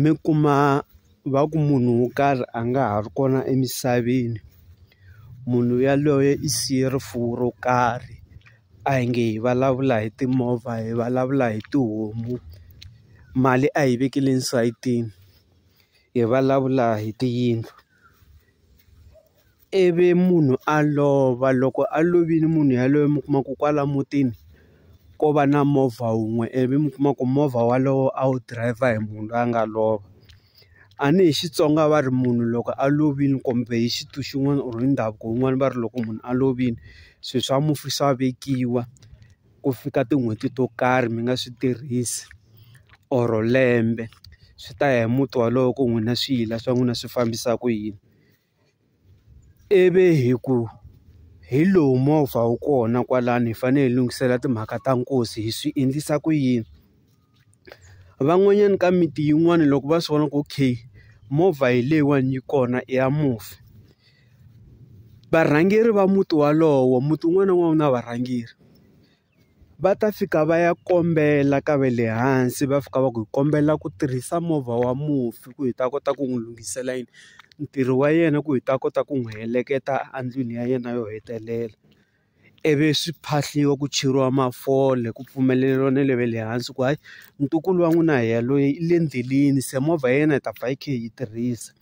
mi kuma va ku munhu wo karhi a nga ha ri kona emisaveni munhu yaloye i siye rifuwo ro karhi a hi nge hi vulavula hi timovha hi vulavula hi tihomu mali a yi vekele esayitini hi vulavula hi tiyindlu. ivi munhu a lova loko a lovile munhu yaloye mi kuma ku kwala mutini ko va na movha wun'we ivi mi kuma ku movha walowo a wu dirayivha hi munhu loyi a nga lova a ni hi Xitsonga va ri munhu loko a lovile kumbe hi xintu xin'wana or hi ndhavuko wun'wani va ri loko munhu a lovile swi swa mufi swa vekiwa ku fika tin'hweti to karhi mi nga swi tirhisi or lembe swi ta ya hi muti walowo ku n'wina swi yila swa n'wina swi fambisa ku yini. ivi hi ku hi lowu movha wu kona kwalano hi fanele hi lunghisela timhaka ta nkosi hi swi endlisa ku yini van'wanyana ka miti yin'wani loko va swi vona ku okay movha hi leyiwani yi kona i ya mufi varhangeri va muti walowo muti wun'wana na wun'wana wu na varhangeri. va ta fika va ya kombela ka va le hansi va fika va ku hi kombela ku tirhisa movha wa mufi ku hi ta kota ku n'wi lunghisela yini ntirho wa yena ku hi ta kota ku n'wi heleketa endlwini ya yena yo hetelela ivi swi phahliwa ku cheriwa mafole ku pfumeleriwa na le va le hansi ku hayi ntukulu wa n'wina hi ya loyi i le endleleni se movha ya yena hi ta pfa hi kha hi yi tirhisa.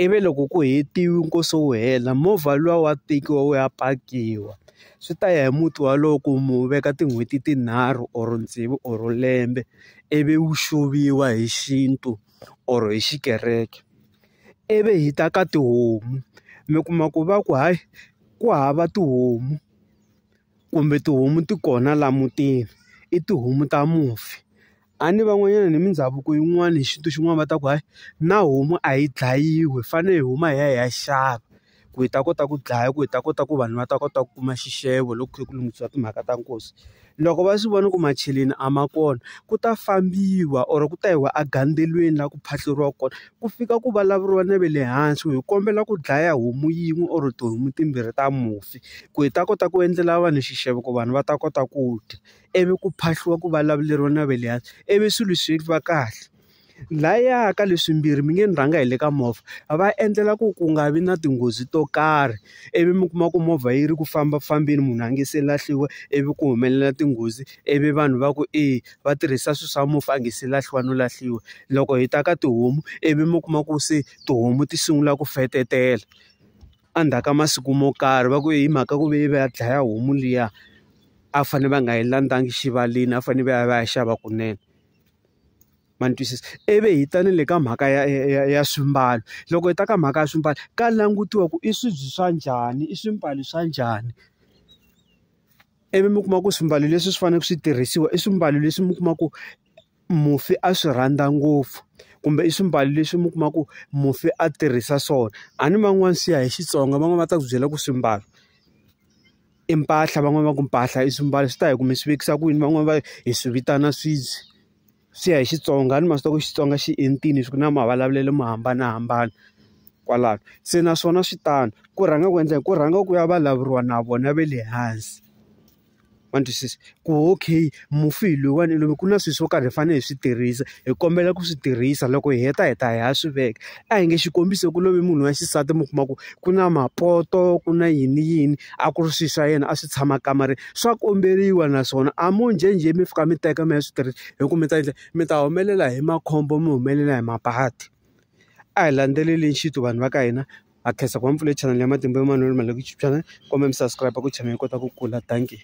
ivi loko ku hetiwe nkosi wu hela movha luwa wa tekiwa wu ya pakiwa swi ta ya hi muti wolowo ku mu veka tin'hweti tinharhu or tsevu or lembe ivi wu xuvuriwa hi xintu or hi xikereke ivi hi ta ka tihomu mi kuma ku va ku hayi ku hava tihomu. kumbe tihomu ti kona laha mutini i tihomu ta mufi a ni van'wanyana ni mindhavuko yin'wani hi xintu xin'wana va ta ku hayi na homu a yi dlayiwi hi fanele hi huma hi ya hi ya xava ku hi ta kota ku dlaya ku hi ta kota ku vanhu va ta kota ku kuma xixevo loko ku kha ku lunghisiwa timhaka ta nkosi loko va swi vona ku macheleni a ma kona ku ta fambiwa or ku ta yiwa egandzweleni laha ku phahluriwa kona. ku fika ku vulavuriwa na ve le hansi ku hi kombela ku dlaya homu yin'we or tihomu timbirhi ta mufi ku hi ta kota ku endlela vanhu xixevo ku vanhu va ta kota ku dya, ivi ku phahliwa ku vulavuleriwa na ve le hansi ivi swilo swi va kahle. Lhaya ka leswimbirhi mi nge ni rhanga hi le ka movha a va endlela ku ku nga vi na tinghozi to karhi, ivi mi kuma ku movha yi ri ku fambafambeni munhu a nga se lahliwa ivi ku humelela tinghozi ivi vanhu va ku e va tirhisa swilo swa mufi a nga se lahliwa no lahliwa. Loko hi ta ka tihomu ivi mi kuma ku se tihomu ti sungula ku fetetela, endzhaku ka masiku mo karhi va ku hi mhaka ku ve va ya dlaya homu liya a va fanele va nga yi landzanga xivaleni a va fanele va ya va ya xava kunene. Ma ni twisisa? Ivi hi ta ni le ka mhaka ya ya ya ya swimbalo, loko hi ta ka mhaka ya swimbalo ka langutiwa ku i swibye swa njhani, i swimbalo swa njhani. Ivi mi kuma ku swimbalo leswi swi faneleke swi tirhisiwa i swimbalo leswi mi kuma ku mufi a swi rhandza ngopfu, kumbe i swimbalo leswi mi kuma ku mufi a tirhisa swona. A ni van'wani swi ya hi Xitsonga van'wani va ta ku byela ku swimbalo i mpahla, van'wani va ku mpahla i swimbalo swi ta ya hi ku mi swi vekisa ku yini. Van'wani va hi swi vitana swibye. swi ya hi Xitsonga a ni ma swi tiva ku Xitsonga xi entini swi na mavulavulelo mo hambanahambana kwalano se naswona swi tano ku rhanga ku endla ku rhanga ku ya vulavuriwa na vona va le hansi ma ni twisisa ku okay mufi hi loyiwani hi ku na swilo swo karhi hi fanele hi swi tirhisa hi kombela ku swi tirhisa loko hi heta hi ta hi ya swi veka. a hi nge xikombiso ku love munhu wa xisati mi kuma ku ku na mapoto ku na yini yini a ku ri swilo swa yena a swi tshama kamareni swa komberiwa naswona a mo njhenjhe mi fika mi teka mi ya swi tirhisa hi ku mi ta endla mi ta humelela hi makhombo mi humelela hi mabadi a hi landzeleli xintu vanhu va ka hina ha khensa ku va mpfula chanele ya matimba man'wana lama le ku chipyana kumbe mi subscribe ku channel yi kota ku kula dankie